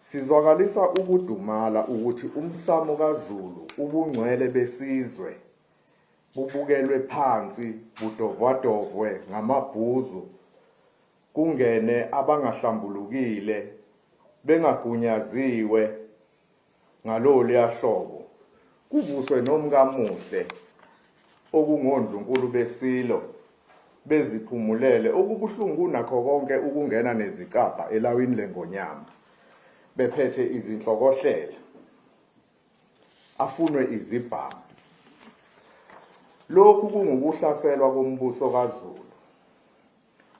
Sizwakalisa ukudumala ukuthi umsamo kaZulu ubungcwele besizwe bubukelwe phansi budovwadovwe ngamabhuzu kungene abangahlambulukile bengagunyaziwe Ngaloluya hlobo kuvuswe nomkamuhle okungondlunkulu beSilo beziphumulele okubuhlungu kunakho konke ukungena nezicabha elawini leNgonyama bephethe izinhlokohlela afunwe izibhamu. Lokhu kungukuhlaselwa kombuso kaZulu.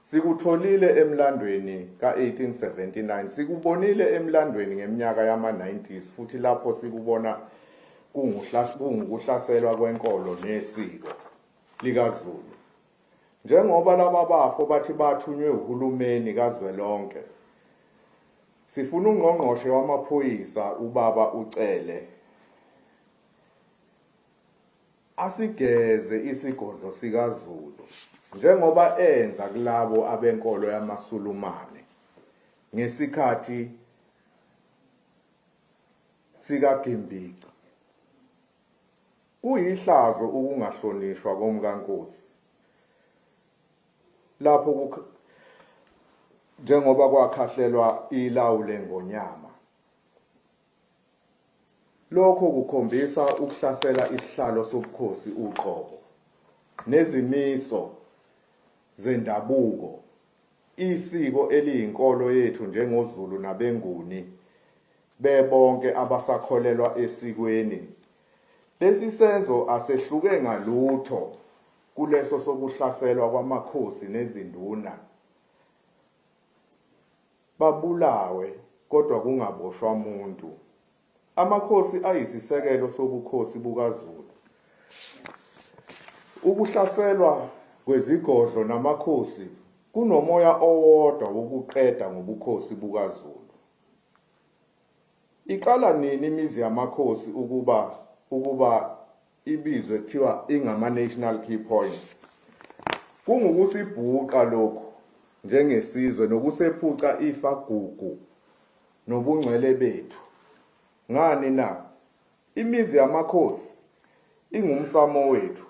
Sikutholile emlandweni ka-1879, sikubonile emlandweni ngeminyaka yama-90s futhi lapho sikubona kungukuhlaselwa kwenkolo nesiko likaZulu. Njengoba laba bafo bathi bathunywe uhulumeni kazwelonke, sifuna uNgqongqoshe wamaPhoyisa, uBaba uCele, Asigeze isigodlo sikaZulu njengoba enza kulabo abenkolo yamaSulumane ngesikhathi sikaGimbici. Kuyihlazo ukungahlonishwa komkaNkosi lapho njengoba kwakhahlelwa ilawu leNgonyama Lokho kukhombisa ukuhlasela isihlalo sobukhosi uqobo nezimiso zendabuko, isiko eliyinkolo yethu njengoZulu nabeNguni bebonke abasakholelwa esikweni. Lesi senzo asehluke ngalutho kuleso sokuhlaselwa kwamakhosi nezinduna. babulawe kodwa kungaboshwa muntu. Amakhosi ayisisekelo sobukhosi bukaZulu. Ukuhlaselwa kwezigodlo namakhosi kunomoya owodwa wokuqeda ngobukhosi bukaZulu. Iqala nini imizi yamakhosi ukuba ukuba ibizwe kuthiwa ingama-national key points kungukusibhuqa lokhu njengesizwe nokusephuca ifa gugu nobungcwele bethu ngani na imizi yamakhosi ingumsamo wethu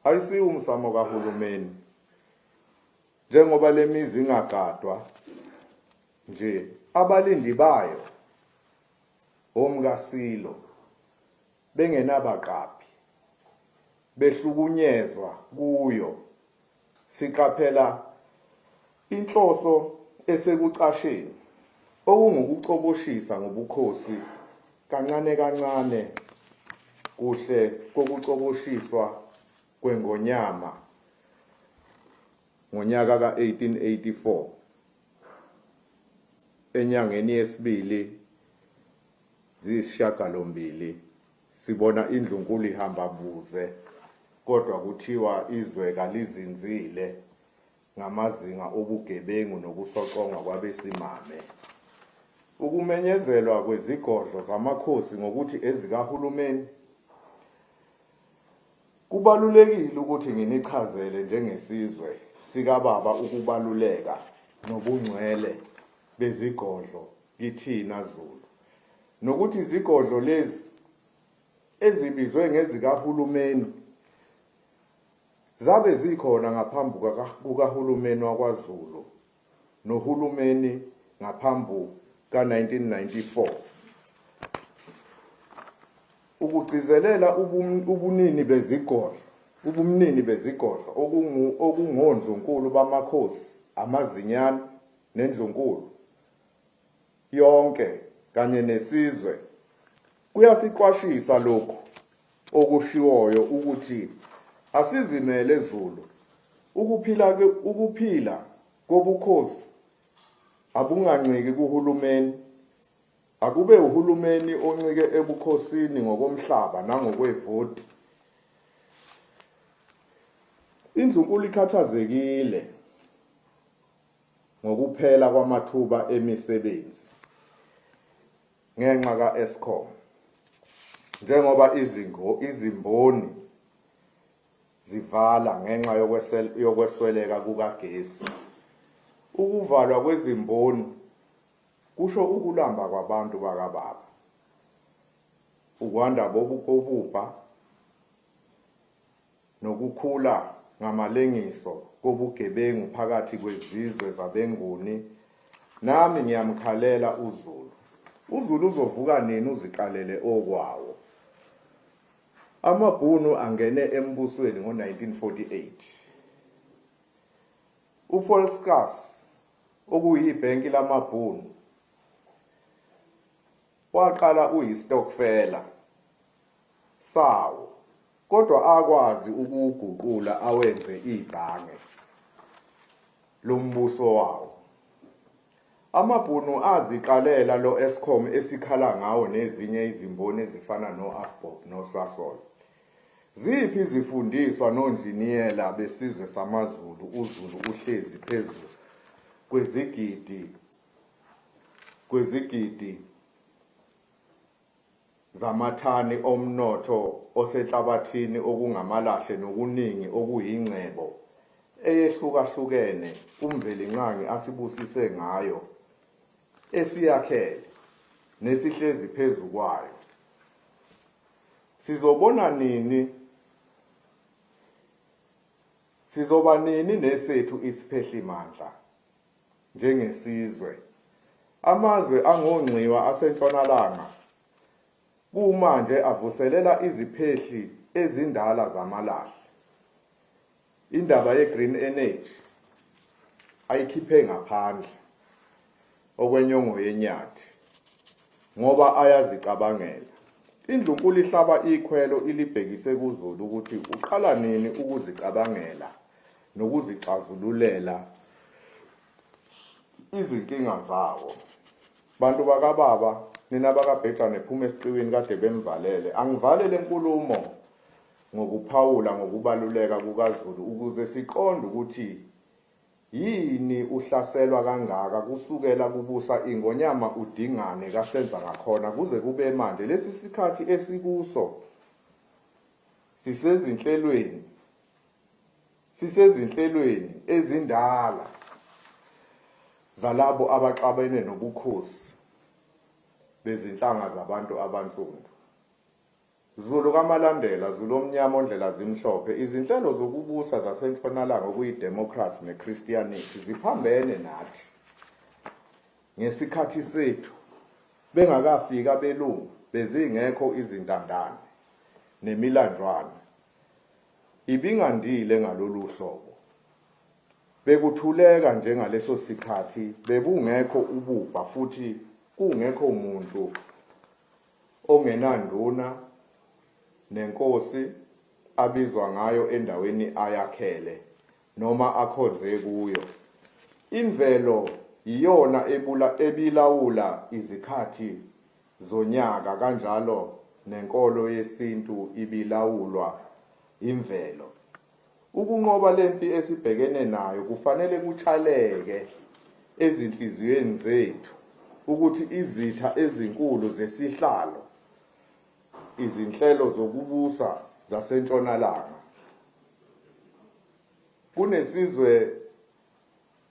ayisiwo umsamo kahulumeni njengoba lemizi ingagadwa nje abalindi bayo omkasilo bengenabaqaphi, behlukunyezwa kuyo. Siqaphela inhloso esekucasheni, okungukucoboshisa ngobukhosi kancane kancane kuhle kokucoboshiswa kweNgonyama ngonyaka ka-1884 enyangeni yesibili ziyisishagalombili sibona indlunkulu ihamba buze kodwa kuthiwa izwe kalizinzile ngamazinga obugebengu nokusoconga kwabesimame. Ukumenyezelwa kwezigodlo zamakhosi ngokuthi ezikahulumeni Kubalulekile ukuthi nginichazele njengesizwe sikababa ukubaluleka nobungcwele bezigodlo kithina Zulu nokuthi izigodlo lezi ezibizwe ngezikahulumeni zabe zikhona ngaphambi kukahulumeni wakwaZulu nohulumeni ngaphambi ka-1994 ukugcizelela ubunini bezigodlo ubumnini bezigodlo okungondlunkulu bamakhosi amazinyane nendlunkulu yonke kanye nesizwe. Kuyasiqwashisa lokhu okushiwoyo ukuthi asizimele Zulu ukuphila ukuphila kobukhosi abunganciki kuhulumeni akube uhulumeni oncike ebukhosini ngokomhlaba nangokwevoti indlunkulu ikhathazekile ngokuphela kwamathuba emisebenzi ngenxa ka-Eskom njengoba izingo, izimboni zivala ngenxa yokwesweleka kukagesi. Ukuvalwa kwezimboni kusho ukulamba kwabantu bakababa, ukwanda bobukobubha, nokukhula ngamalengiso kobugebengu phakathi kwezizwe zabeNguni, nami ngiyamkhalela uZulu. UZulu uzovuka nini uziqalele okwawo? AmaBhunu angene embusweni ngo-1948. UVolkskas, okuyibhenki lamaBhunu, waqala uyistokfela sawo. Kodwa akwazi ukuwuguqula awenze ibhange lombuso wawo. AmaBhunu aziqalela lo Eskom esikhala ngawo nezinye izimboni ezifana no Avbob no Sasol. Ziphi izifundiswa nonjiniyela besizwe samaZulu uZulu uhlezi phezu kwezigidi kwezigidi zamathani omnotho osenhlabathini okungamalahle nokuningi okuyingcebo eyehlukahlukene uMvelinqangi asibusise ngayo, esiyakhele nesihlezi phezu kwayo. Sizobona nini Sizoba nini nesethu isiphehlimandla? njengesizwe. Amazwe angongxiwa aseNtshonalanga kumanje avuselela iziphehli ezindala zamalahle. Indaba ye-green energy ayikhiphe ngaphandle okwenyongo yenyathi ngoba ayazicabangela. Indlunkulu ihlaba ikhwelo ilibhekise kuZulu ukuthi uqala nini ukuzicabangela. nokuzixazululela izinkinga zawo. Bantu bakababa nina bakabhejane phuma esiqiwini kade bemvalele. Angivale lenkulumo ngokuphawula ngokubaluleka kukaZulu ukuze siqonde ukuthi yini uhlaselwa kangaka kusukela kubusa ingonyama udingane kasenza ngakhona kuze kube manje lesi sikhathi esikuso sisezinhlelweni Sisezinhlelweni ezindala zalabo abaxabene nobukhosi bezinhlanga zabantu abansundu. Zulu kaMalandela, Zulu omnyama ondlela zimhlophe, izinhlelo zokubusa zaseNtshonalanga okuyidemokhrasi neKristiyanikhi ziphambene nathi ngesikhathi sethu bengakafiki abelungu bezingekho izintandane nemilanjwana. Ibingandile ngalolu hlobo. Bekuthuleka nje ngaleso sikhathi, bekungekho ububha futhi kungekho muntu ongenanduna nenkosi abizwa ngayo endaweni ayakhele noma akhonze kuyo. Imvelo yiyona ebilawula izikhathi zonyaka kanjalo nenkolo yesintu ibilawulwa imvelo. Ukunqoba le mpi esibhekene nayo kufanele kutshaleke ezinhliziyweni zethu ukuthi izitha ezinkulu zesihlalo, izinhlelo zokubusa zaseNtshonalanga, kunesizwe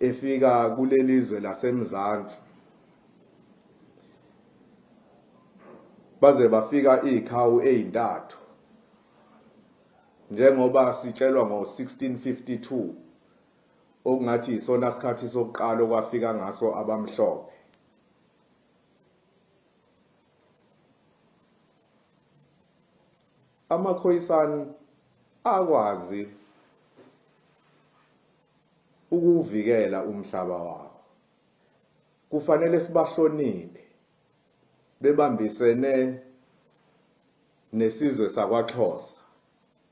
efika kulelizwe laseMzansi baze bafika iziqhawu ezintathu njengoba sitshelwa ngo-1652 okungathi isona sikhathi sokuqala okwafika ngaso abamhlophe Amakhoisan akwazi ukuwuvikela umhlaba wawo. Kufanele sibahloniphe bebambisene nesizwe sakwaXhosa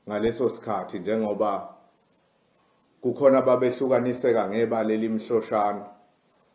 ngaleso sikhathi njengoba kukhona babehlukaniseka ngebala elimhloshana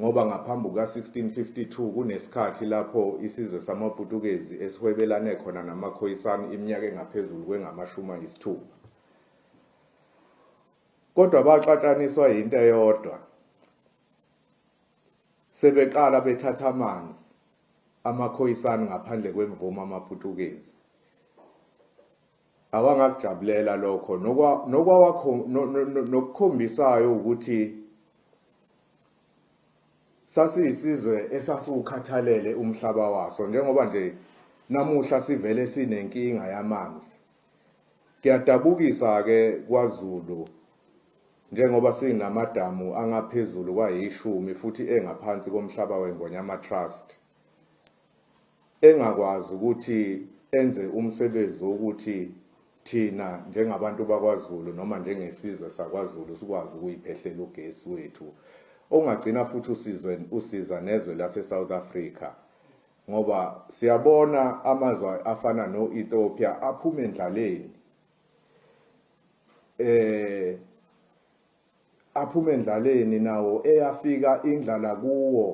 ngoba ngaphambi kuka-1652 kunesikhathi lapho isizwe samaPutukezi esihwebelane khona namaKhoisan iminyaka engaphezulu kwengamashumi ayisithupha. Kodwa baxatshaniswa yinto eyodwa, sebeqala bethatha amanzi amaKhoisan ngaphandle kwemvume amaPutukezi. awangakujabulela lokho nokwawakho nokukhombisayo ukuthi sasiyisizwe esasiwukhathalele umhlaba waso njengoba nje namuhla sivele sinenkinga yamanzi kuyadabukisa-ke kwazulu njengoba sinamadamu angaphezulu kwayishumi futhi engaphansi komhlaba wengonyama trust engakwazi ukuthi enze umsebenzi wokuthi thina njengabantu bakwaZulu noma njengesizwe sakwaZulu sikwazi ukuyiphehlela ugesi wethu ongagcina futhi usizwe usiza nezwe laseSouth Africa ngoba siyabona amazwe afana no-Ethiopia aphuma endlaleni eh Aphume endlaleni nawo eyafika indlala kuwo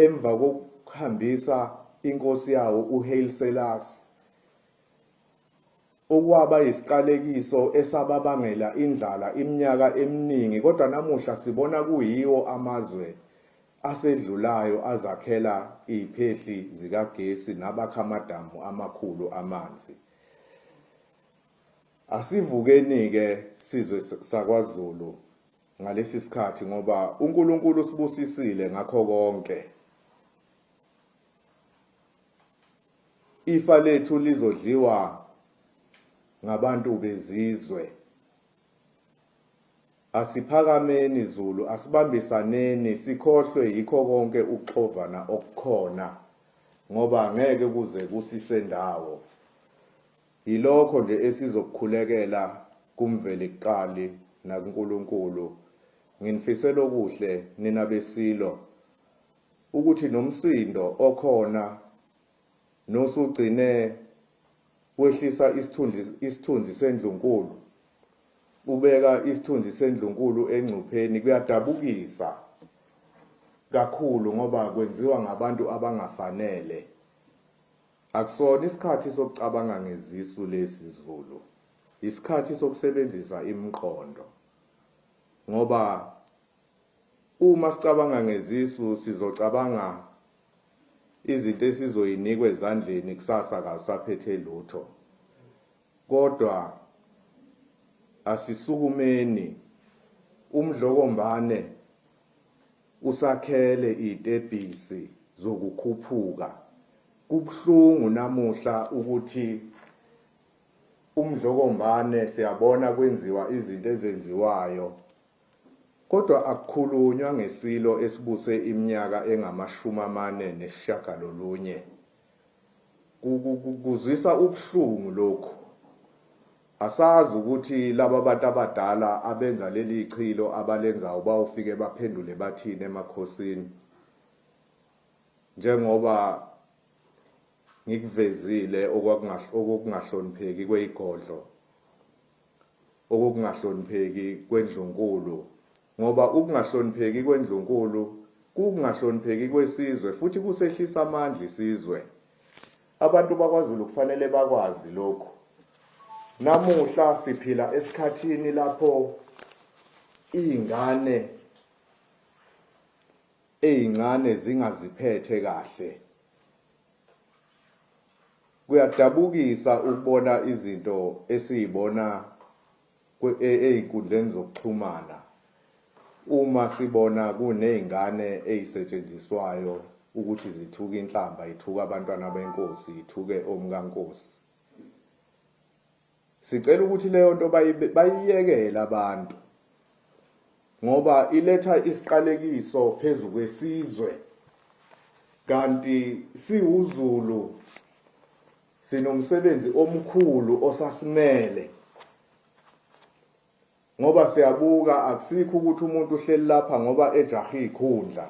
emva kokuhambisa inkosi yawo uHaile Selassie, okwaba yisiqalekiso esababangela indlala iminyaka eminingi kodwa namuhla sibona kuyiwo amazwe asedlulayo azakhela iziphehli zikagesi nabakha amadamu amakhulu amanzi. Asivukenike sizwe sakwaZulu ngalesi sikhathi ngoba uNkulunkulu usibusisile ngakho konke. Ifa lethu lizodliwa ngabantu bezizwe. Asiphakameni Zulu, asibambisaneni sikhohlwe yikho konke ukuxovana okukhona ngoba ngeke kuze kusisendawo. Yilokho nje esizokukhulekela kuMvelikuqali nakuNkulunkulu. Nginifisela okuhle nina beSilo, ukuthi nomsindo okhona nosugcine wehlisa isithunzi, isithunzi sendlunkulu, ubeka isithunzi sendlunkulu engcupheni, kuyadabukisa kakhulu ngoba kwenziwa ngabantu abangafanele. Akusona isikhathi sokucabanga ngezisu lesi Zulu yisikhathi sokusebenzisa imqondo ngoba Uma sicabanga ngezisu sizocabanga izinto esizoyinikwa ezandleni kusasa kawusaphethe lutho kodwa asisukumeni umdlokombane Usakhele itebhisi zokukhuphuka. Kubuhlungu namuhla ukuthi umdlokombane siyabona kwenziwa izinto ezenziwayo kodwa akukhulunywa ngesilo esibuse iminyaka engamashumi amane nesishagalolunye. Kuzwisa ubuhlungu lokhu. Asazi ukuthi laba bantu abadala abenza leli chilo abalenzayo bayofike baphendule bathini emakhosini njengoba ngikuvezile okokungahlonipheki kweyigodlo, okokungahlonipheki kwendlunkulu Ngoba ukungahlonipheki kwendlunkulu kuwukungahlonipheki kwesizwe futhi kusehlisa amandla isizwe. Abantu bakwaZulu kufanele bakwazi lokhu. Namuhla siphila esikhathini lapho iy'ngane ey'ncane zingaziphethe kahle. Kuyadabukisa ukubona izinto esiy'bona ezinkundleni zokuxhumana uma sibona kunezingane ezisetshenziswayo ukuthi zithuke inhlamba, zithuke abantwana benkosi, zithuke omkankosi. Sicela ukuthi leyo nto bayiyekele abantu ngoba iletha isiqalekiso phezu kwesizwe kanti siwuZulu. Sinomsebenzi omkhulu osasimele ngoba siyabuka akusikho ukuthi umuntu uhleli lapha ngoba ejahe ikhundla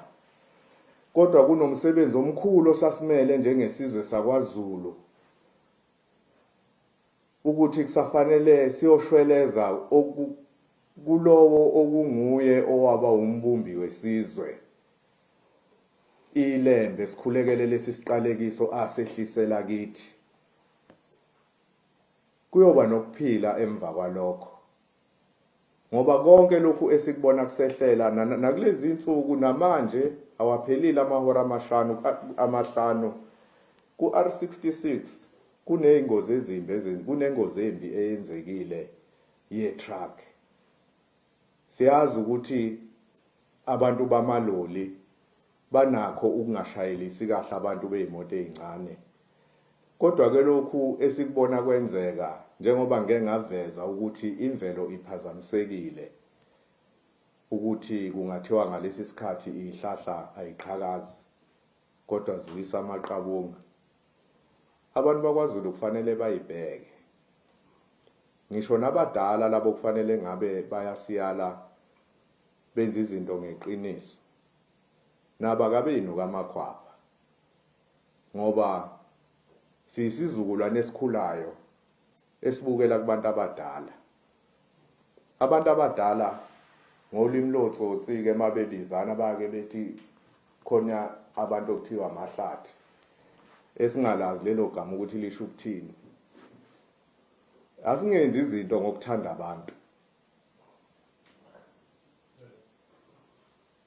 kodwa kunomsebenzi omkhulu osasimele njengesizwe sakwaZulu ukuthi kusafanele siyoshweleza kulowo okunguye owaba umbumbi wesizwe. Ilembe sikhulekele lesi siqalekiso asehlisela kithi. Kuyoba nokuphila emva kwalokho. Ngoba konke lokhu esikubona kusehlela nakulezi insuku namanje awaphelile amahora amashanu amahlanu ku-R66 kuneyingozi ezimbi kunengozi embi eyenzekile ye-truck. Siyazi ukuthi abantu bamaloli banakho ukungashayelisi kahle abantu bey'moto ey'ncane. Kodwa ke lokhu esikubona kwenzeka njengoba ngike ngaveza ukuthi imvelo iphazamisekile ukuthi kungathiwa ngalesi sikhathi iy'hlahla ay'qhakazi kodwa ziwisa amaqabunga. Abantu bakwaZulu kufanele bayibheke. Ngisho nabadala labo kufanele ngabe bayasiyala benza izinto ngeqiniso. Nabo akabeyinu kamakhwapha ngoba siyisizukulwane esikhulayo esibukela kubantu abadala abantu abadala ngolimi lotsotsi ke mabebizana bake bethi khona abantu okuthiwa amahlathi esingalazi lelo gama ukuthi lisho ukuthini asingenzi izinto ngokuthanda abantu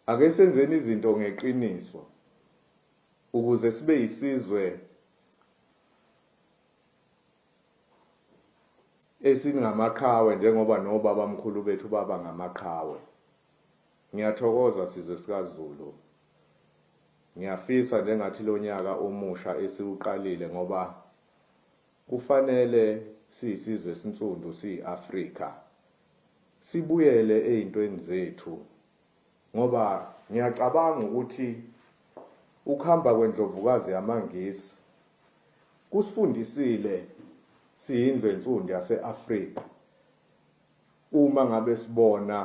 ake senzeni izinto ngeqiniso ukuze sibe yisizwe esingamaqhawe njengoba nobabamkhulu bethu baba ngamaqhawe. Ngiyathokoza sizwe sikaZulu. Ngiyafisa njengathi lonyaka omusha esiwuqalile ngoba kufanele siyisizwe esinsundu siyi-Afrika sibuyele eyintweni zethu Ngoba ngiyacabanga ukuthi ukuhamba kwendlovukazi yamaNgisi kusifundisile siyindlu ensundu yase-Afrika uma ngabe sibona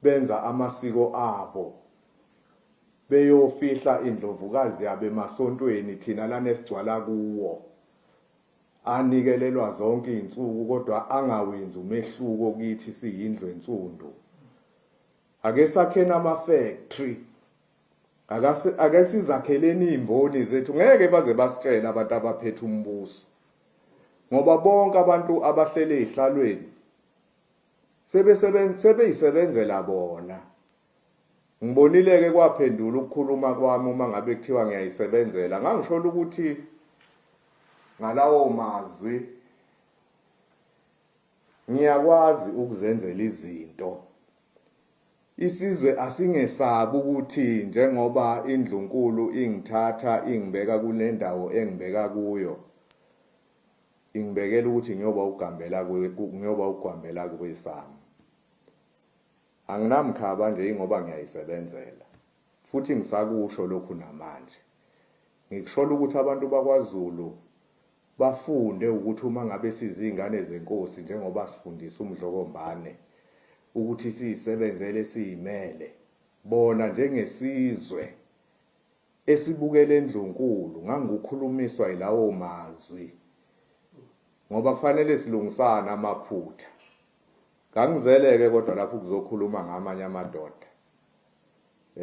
benza amasiko abo beyofihla indlovukazi yabo emasontweni thina lana esigcwala kuwo Anikelelwa zonke izinsuku kodwa angawenzi umehluko kithi siyindlu ensundu. Ake sakheni ama factory. Akase ake sizakheleni izimboni zethu ngeke baze basitshela abantu abaphethe umbuso. Ngoba bonke abantu abahlele ezihlalweni sebesebenza sebeyisebenzela bona Ngibonile-ke kwaphendula ukukhuluma kwami uma ngabe kuthiwa ngiyayisebenzela. Ngangishola ukuthi ngalawo mazwi ngiyakwazi ukuzenzela izinto. Isizwe asingesabi ukuthi njengoba indlunkulu ingithatha ingibeka kule ndawo engibeka kuyo ingibekela ukuthi ngiyoba ugambela ngiyoba ugwambela kwesami Anginamkhaba nje ingoba ngiyayisebenzela futhi ngisakusho lokhu namanje. Ngikusholo ukuthi abantu bakwaZulu bafunde ukuthi uma ngabe siziyngane zeNkosi njengoba sifundisa uMdlokombane ukuthi siyisebenzele siyimele bona njengesizwe esibukele eNdlunkulu ngangukhulumiswa yilawo mazwi ngoba kufanele silungisane amaphutha. Ngangizele ke kodwa lapho kuzokhuluma ngamanye amadoda.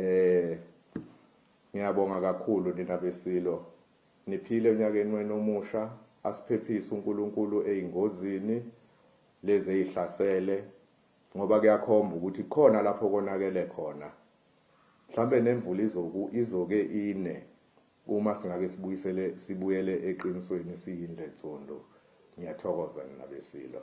Eh ngiyabonga kakhulu nina besilo. Niphile unyakeni wenu omusha, asiphephise uNkulunkulu ezingozini lezi ezihlasele ngoba kuyakhomba ukuthi khona lapho konakele khona. Mhlambe nemvula izoku izoke ine uma singake sibuyisele sibuyele eqinisweni siyindle nsundu. Ngiyathokoza nina besilo.